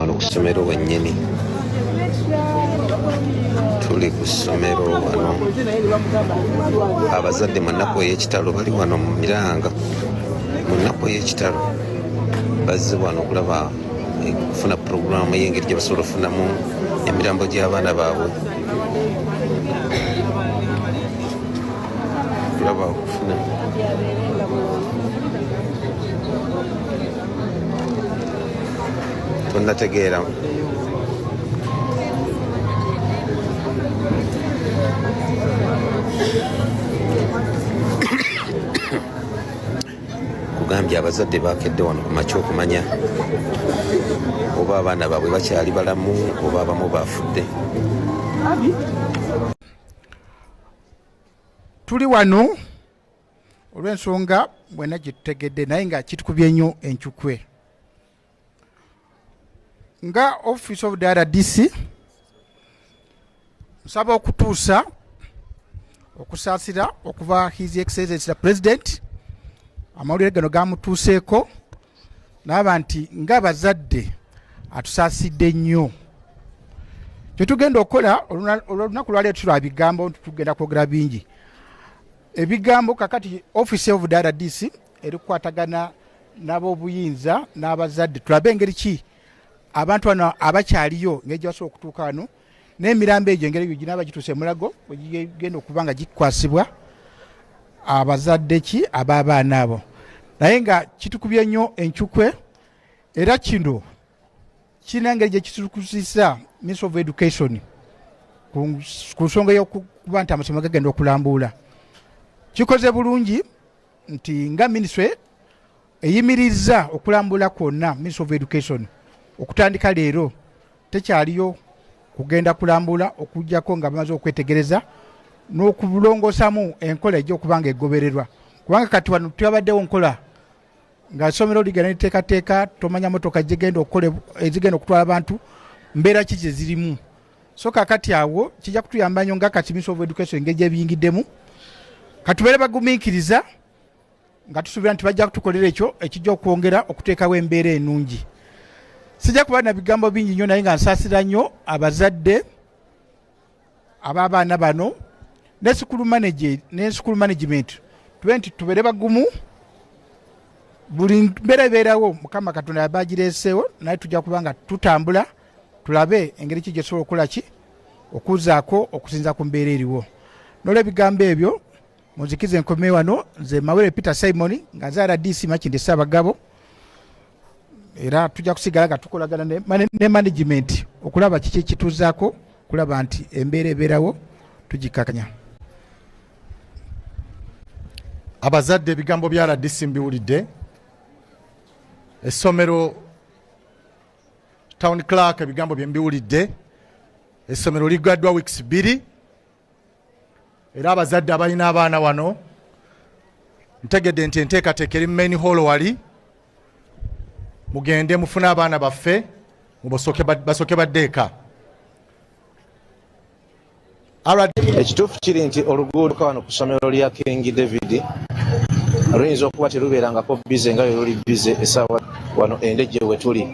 wano ku ssomero wennyini tuli ku ssomero wano abazadde mu nnaku ey'ekitalo bali wano mu miranga mu nnaku ey'ekitalo bazze wano okulaba eh, okufuna puroguramu ey'engeri gye basobola okufunamu emirambo gy'abaana baabwe okulaba okufuna tonnategeera kugambye abazadde bakedde wano ku makya okumanya oba abaana baabwe bakyali balamu oba abamu baafudde tuli wano olw'ensonga mwena gye tutegedde naye nga kitukubye nnyo encukwe nga office of the rdc nsaba okutuusa okusaasira okuva his excellency the president amawulire gano gamutuuseeko naaba nti ngaabazadde atusaasidde nnyo kyetugenda okukola olwolunaku lwaleero tulwa bigambo nti tugenda kwogera bingi ebigambo kakati office of the rdc eri kukwatagana n'abobuyinza n'abazadde tulabe engeri ki abantu bano abakyaliyo ngeri gyebasobola okutuuka wano n'emirambo egyo engeri egyo ginaaba gituuse emulago egigenda okuba nga gikwasibwa abazadde ki ab'abaana abo naye nga kitukubye nnyo encukwe era kino kirina engeri gye kitukusisa ministry of education ku nsonga y'okuba nti amasomero gagenda okulambuula kikoze bulungi nti nga ministry eyimirizza okulambula kwonna ministry of education okutandika leero tekyaliyo kugenda kulambula okujjako nga bamaze okwetegereza n'okulongoosamu enkola ejja okuba nga egobererwa kubanga kati wano twabaddewo nkola nga somero ligana neteekateeka tomanya motoka gigenda okukola ezigenda okutwala abantu mbeera ki gye zirimu so kakati awo kijja kutuyamba nyo nga kati minisita of education engeri gyebiyingiddemu katubeere bagumiikiriza nga tusuubira nti bajja kutukolera ekyo ekijja okwongera okuteekawo embeera enungi sijja kuba na bigambo bingi nnyo naye nga nsaasira nnyo abazadde ababaana bano ne school manager ne school management twenti tubere bagumu buli mbeera ebeerawo mukama katonda yabagireeseewo naye tujja kuba nga tutambula tulabe engeri ki gyetusobola okukola ki okuzaako okusinza ku mbeera eriwo nola ebigambo ebyo munzikize enkome wano nze mawere peter simon nga nze rdc makinde saabagabo era tujja kusigala nga tukolagana ne management okulaba kiki ekituzaako okulaba nti embeera ebeerawo tugikakanya abazadde ebigambo bya rdc mbiwulidde essomero town clark ebigambo bye mbiwulidde essomero ligaddwa weeks bbiri era abazadde abalina abaana wano ntegedde nti enteekateeka eri mu main hall wali mugende mufune abaana baffe basooke badde eka ekituufu kiri nti oluguudo kawano ku ssomero lya king david luyinza okuba terubeerangako bize nga lwe luli bize essaawa wano endejje we tuli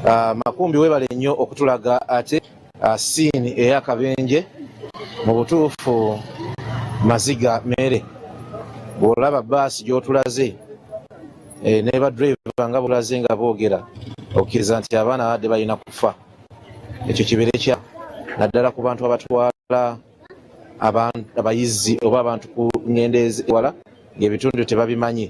Ah, makumbi webale nnyo okutulaga ate ah, siini eyakabenje mu butuufu maziga mere bwolaba baasi gyotulaze eh, nebadriva nga bulaze nga boogera okkiriza nti abaana babadde balina kufa ekyo kibeere kya naddala ku bantu abatwala abayizzi oba abantu ku ngendo eziwala ng'ebitundu tebabimanyi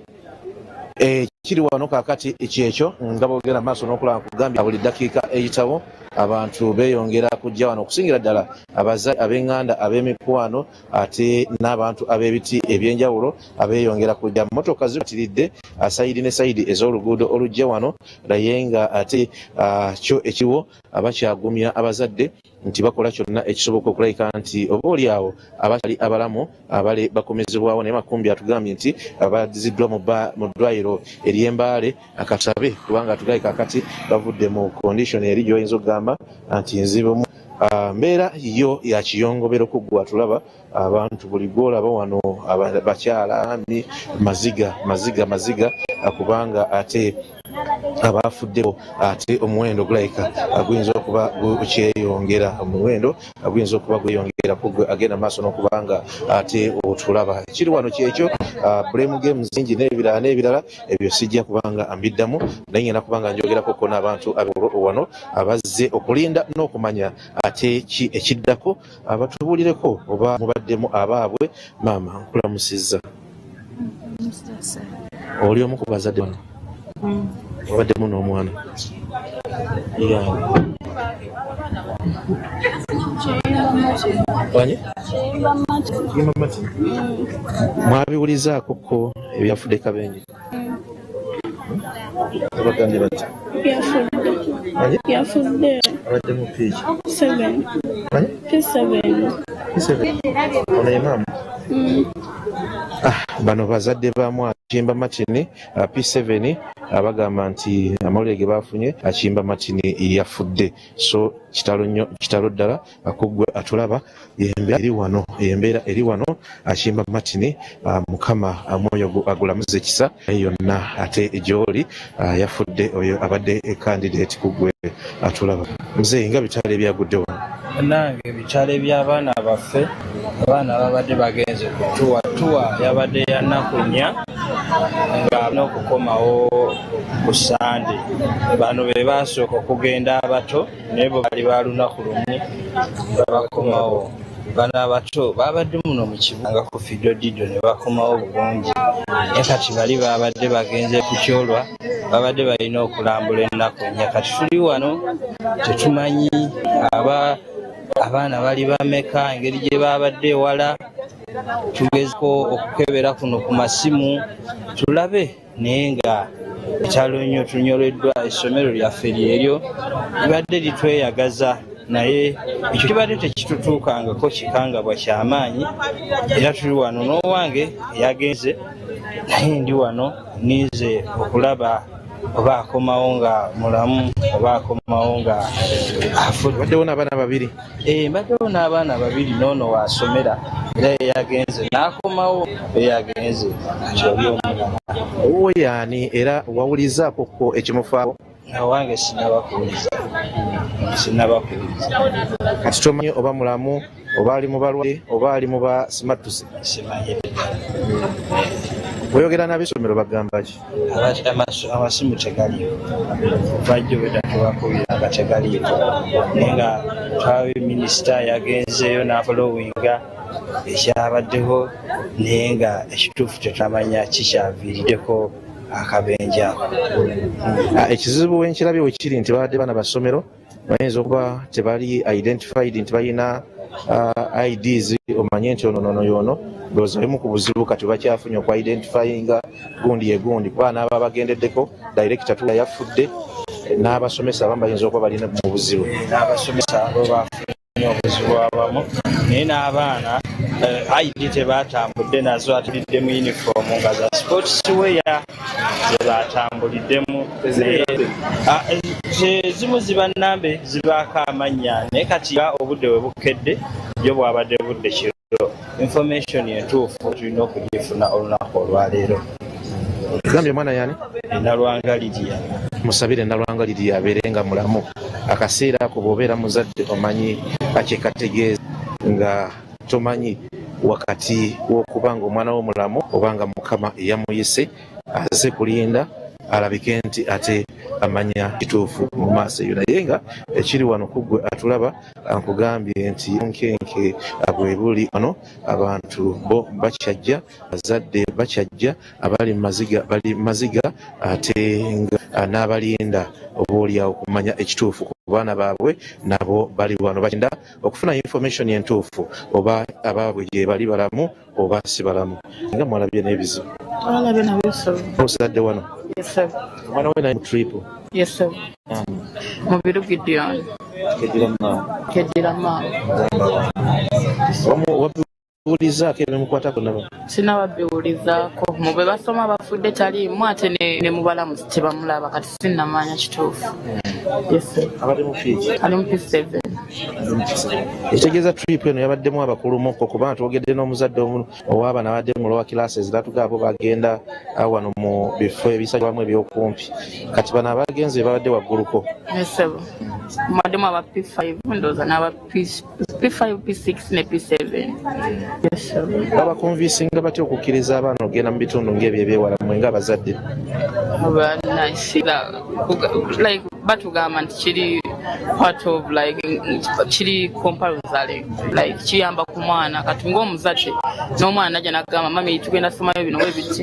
ekiri eh, wano kakati kyekyo nga bogera maaso nokulaba kugambye buli dakiika eyitawo abantu beyongera kujja wano okusingira ddala abaza ab'enganda ab'emikwano ate n'abantu ab'ebiti ebyenjawulo abeyongera kujja motoka zibatiridde ah, sayidi ne sayidi ez'oluguudo olujja wano naye nga ate ah, kyo ekiriwo abakyagumya abazadde nti bakola kyonna ekisoboka okulabika nti oba oli awo abakyali abalamu abale bakomezebwawo naye makumbi atugambye nti abadiziddwa mu ddwayiro eryembaale akatabe kubanga atugaye kakati bavudde mu kondisoni eri gyoyinza okugamba nti nzibumu ah, mbeera yo yakiyongobero kuggwa tulaba abantu buli gwolaba wano bakyala ni maziga maziga maziga kubanga ate abaafudde ate omuwendo gulabika guyinza okuba gukyeyongera omuwendo guyinza okuba gweyongera kugwe agenda maaso n'okuba nga ate otulaba ekiri wano kyekyo ah, blame games zingi n'ebirala n'ebirala ebyo sijja kubanga mbiddamu naye ngenda kubanga njogerako ko n'abantu abewano abazze okulinda n'okumanya ate ki ekiddako abatubuulireko oba mubaddemu abaabwe maama nkulamusizza oli omu ku bazadde bano wabaddemu mm. n'omwana mwabiwulizaako ko ebyafudde kabenje yafudde abadde mu piiki ono ye maama mm. ah, bano bazadde ba mwana kimba matini uh, p7 abagamba nti amawulire ge baafunye akimba matini yafudde so kitalo nnyo kitalo ddala akugwe atulaba yembeera eri wano yembeera eri wano akimba matini ah, mukama ah, mwoyo agulamuze kisa yonna ate gyoli ah, yafudde oyo abadde candidate kugwe atulaba mzee nga bitala ebyagudde wano nange ebitala ebyabaana baffe abaana babadde bagenze kutuwa tuwa yabadde yanakunya nga nokukomawo ku sande bano bebasooka okugenda abato naye bwe bali ba lunaku lumu babakomawo bana abato babadde muno mu kibuga nga ku fidodido ne bakomawo bulungi naye kati bali babadde bagenze ku kyolwa babadde balina okulambula ennaku ennya kati tuli wano tetumanyi aba abaana bali bameka engeri gye babadde ewala tugezeko okukebera kuno ku masimu tulabe naye nga ekyalo nnyo tunyoleddwa essomero lyaffe lyeryo libadde litweyagaza naye ekyo kibadde tekitutuukangako kikangabwa kyamaanyi era tuli wano n'owange yagenze naye ndi wano ninze okulaba oba akomawo nga mulamu oba akomawo nga afudde waddewo n'abaana babiri Eh, mbaddewo n'abaana babiri n'ono waasomera era eyagenze n'akomawo eyagenze kyoli omulala owuwo yaani era wawulizzaako ko ekimufaako awange sinaba kuwuliza sinaba kuwuliza kati tomanyi oba mulamu oba ali mu balwale oba ali mu basimattuse simanyire oyogera n'abesomero bagamba ki amasimu tegaliiwo vajjo bwedda tubakubira nga tegaliiwo naye nga twabe minisita yagenzeeyo n'afolowinga ekyabaddeho naye nga ekituufu tetamanya kikyaviiriddeko akabenja ako ah, ekizibu wenkirabye wekiri nti babadde bana basomero bayinza okuba tebali identified nti balina uh, ids omanye nti ono nono yono ndowooza bimu ku buzibu kati bakyafunye oku identifyinga gundi egundi kuba naaba bagendeddeko directa tula yafudde n'abasomesa abamu bayinza okuba bali mu buzibu obuzibu abamu naye n'abaana eh, id tebatambudde nazo atulidde mu uniform nga za sports weya zebatambuliddemu ah, ezimu ziba nambe zibaako amannya naye kati obudde we bukedde yo bwabadde budde kiro information entuufu tulina okugifuna olunaku olwaleero gambye omwana yani enalwangaliriya musabire enalwangaliriya abeere nga mulamu akaseera ako bwobeera muzadde omanyi akyekategeeza nga tomanyi wakati wokuba nga omwana wo mulamu oba nga mukama eyamuyise aze kulinda alabike nti ate amanya kituufu mu maaso eyo naye nga ekiri wano kuggwe atulaba Nkugambye nti bunkenke bwebuli wano, abantu bo bakyajja, abazadde bakyajja, abali mu maziga bali mu maziga ate nga n'abalinda oboolyawo okumanya ekituufu ku baana baabwe nabo bali wano bakyenda okufuna information entuufu oba abaabwe gyebali balamu oba si balamu nga mwalabye n'ebizibu twalabye nabyo ssebo osigadde wano omwana we naye mu trip yes ssebo mubiru gideon kedira maama kedira maama wabiwulizaako ebimukwatako naba sinababiwulizaako mu be basoma bafudde taliimu ate ne mubalamu tebamulaba kati sinnamanya kituufu ali mu p7 ekitegeeza trip eno yabaddemu abakulumuko kuba twogedde n'omuzadde omu ow'abaana abadde mu lowa kilaasi eziratuga abo bagenda ah, wano mu bifo ebisalibwamu ebyokumpi kati bano abagenzi babadde wagguluko P5, P6 ne P7. Yes, sir. Babakonvinsinga batya okukkiriza abaana okugenda mu bitundu ng'ebyo ebyewala mmwe ng'abazadde? Abaana kira like batugamba nti kiri part of like kiri compulsory like kiyamba ku mwana kati ng'omuzadde n'omwana najja nagamba mami tugenda somayo bino webiti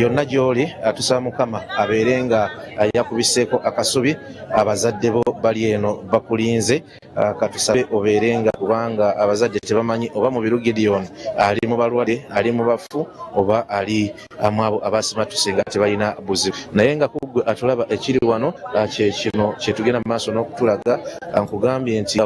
yonna gy'oli atusa mukama abeere nga yakubiseeko akasubi abazadde bo bali eno bakulinze Ah, katusabe obeere nga kubanga abazadde tebamanyi oba mubiru gideon ali mu balwadde ali mu bafu oba ali ah, mwabo abasimatuse nga tebalina buzibu naye nga kuggwe atulaba ekiri wano ah, kyekino kyetugenda mu maaso n'okutulaga nkugambye nti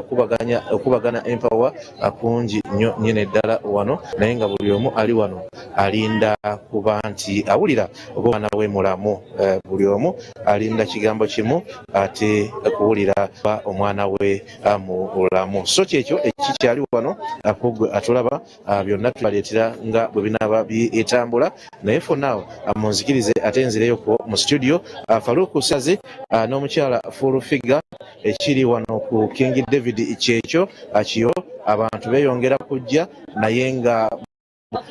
okubagana empawa kungi nyo nyene ddala wano naye nga buli omu ali wano alinda kuba nti awulira oba omwana we mulamu eh, buli omu alinda kigambo kimu ate kuwulira ba omwana we ah, mulamu so kyekyo ekikyali wano akugwe ah, atulaba ah, byonna tubaleetera nga bwe binaaba bitambula naye fonaw munzikirize ate nzireyo ku mu studio faluku sazi n'omukyala full figure ekiri wano ku king david kyekyo akiyo abantu beyongera kujja naye nga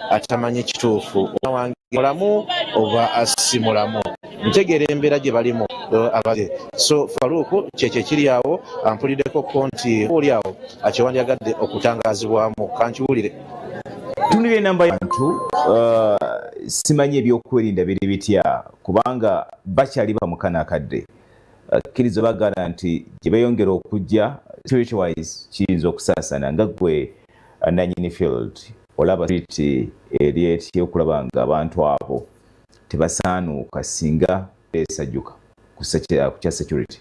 atamanyi kituufu wange mulamu oba si mulamu ntegeera embeera gye balimu abage so faruuku kyekyo ekiri awo ampuliddeko ko nti oli awo akyewandyagadde okutangazibwamu kankiwulire tunira enamba yantu uh, simanyi ebyokwerinda biri bitya kubanga bakyali bamukana akadde akkiriza bagala nti gye beeyongera okujja spirituwise kiyinza okusaasana nga gwe nanyini field olaba street eri etye okulaba nga abantu abo tebasaanuuka singa esajuka kukya security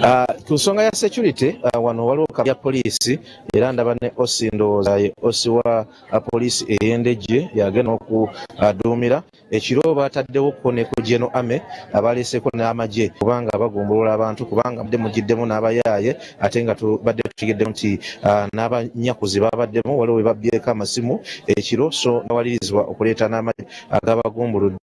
ah, ku nsonga ya security ah, wano waliwo kabya poliisi era ndaba ne osi ndowooza ye osi wa ah, poliisi ey'endejje yagenda okuduumira uh, Ekiro baataddewo ko ne ku Gen Ame abaleeseeko n'amagye kubanga bagumbulula abantu kubanga mubadde mujjiddemu n'abayaaye ate nga tubadde tutegeddemu nti ah, n'abanyakuzi babaddemu waliwo bwe babbyeko amasimu ekiro so nawalirizibwa okuleeta n'amagye agabagumbuludde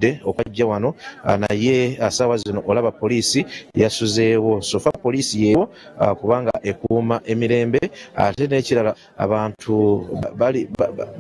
de okwajja wano ah, naye ah, saawa zino olaba poliisi yasuzeewo sofa poliisi yeewo ah, kubanga ekuuma emirembe ate n'ekirala abantu bali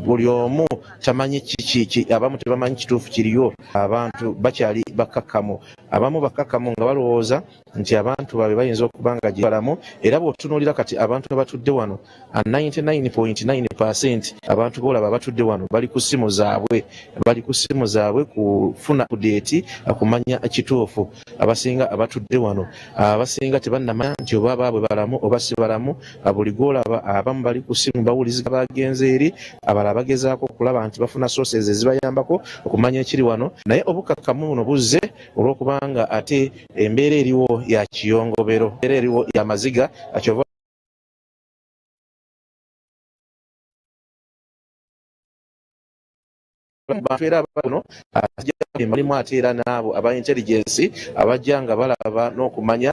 buli omu tamanyi kiki abamu tebamanyi kituufu kiriyo abantu bakyali bakkakkamu abamu bakkakkamu nga balowooza nti abantu baabwe bayinza okuba nga gyebalamu era bw'otunuulira kati abantu abatudde wano 99.9 percent abantu boolaba abatudde wano bali ku ssimu zaabwe bali ku ssimu zaabwe kufuna kudeeti kumanya kituufu abasinga abatudde wano abasinga tebannamanya nti oba baabwe balamu oba si balamu buli gwolaba abamu bali ku ssimu bawulizika bagenze eri abalala bagezaako okulaba nti bafuna sooses ezibayambako okumanya ekiri wano naye obukakkamu buno buzze olw'okubanga ate embeera eriwo ya kiyongobero era eriwo ya maziga akyova abantu era bano emalimu ate era n'abo aba intelligence abajja nga balaba n'okumanya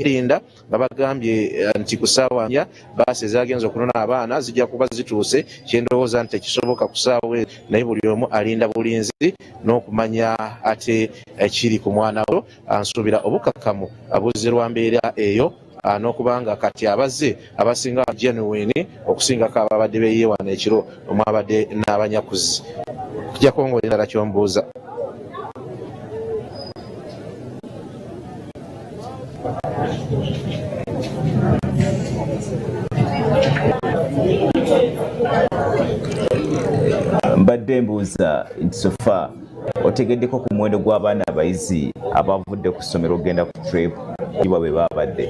Erinda nga bagambye eh, nti ku ssaawa nya baasi ezagenze okunona abaana zijja kuba zituuse kyendowooza nti tekisoboka ku ssaawa ezo naye buli omu alinda bulinzi n'okumanya ate ekiri ku mwana we ansuubira obukakamu abuzze lwa mbeera eyo ah, n'okubanga kati abazze abasinga genuine okusingako ababadde beyewana ekiro omwabadde n'abanyakuzi kija kwongera endala kyombuuza mbadde mbuuza nti sofa otegeddeko ku muwendo gw'abaana abayizi abavudde ku ssomero okugenda ku trip iwa bwe baabadde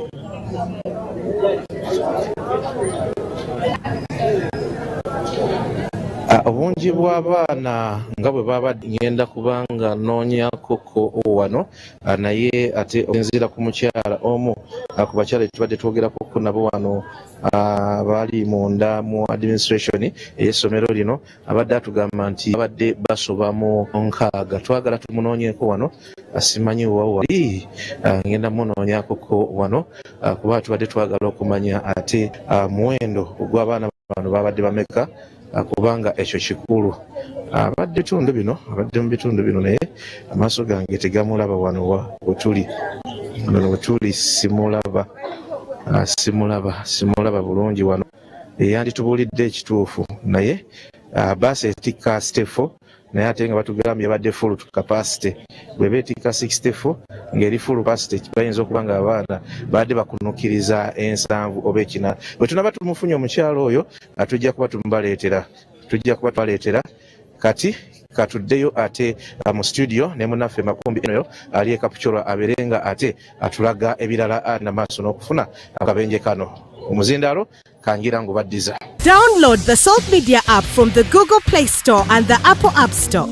ah, obungi bw'abaana nga bwe baabadde ngenda kubanga noonyakoko wano ah, naye ate osinziira ku mukyala omu ah, ku bakyala etubadde twogerakoko nabo wano baali munda mu administration ey'essomero lino Abadde atugamba nti abadde basoba mu nkaaga twagala tumunoonyeeko wano simanyi wa wali ah, ngenda munoonyakoko wano ah, kuba tubadde twagala okumanya ate ah, muwendo ogw'abaana bano babadde bameka kubanga ekyo kikulu abadde bitundu bino abadde mu bitundu bino naye amaaso gange tegamulaba wano wetuli wano wetuli simulaba simulaba simulaba bulungi wano yeyanditubulidde ekituufu naye ah, bus etikka site 4 naye ate nga batugambye yabadde full capacity bweba etikka 64 ng'eri full capacity bayinza okuba nga abaana baadde bakunukiriza ensanvu oba ekina bwe tunaba tumufunye omukyalo oyo ah, tujja kuba tumubaleetera tujja kuba tubaleetera Kati katuddeyo ate uh, mu studio ne munaffe makumbi enoyo ali ekapucora abeere nga ate atulaga ebirala ali na maaso n'okufuna akabenje kano omuzindaalo kangira ngu baddiza download the salt media app from the google play store and the apple app store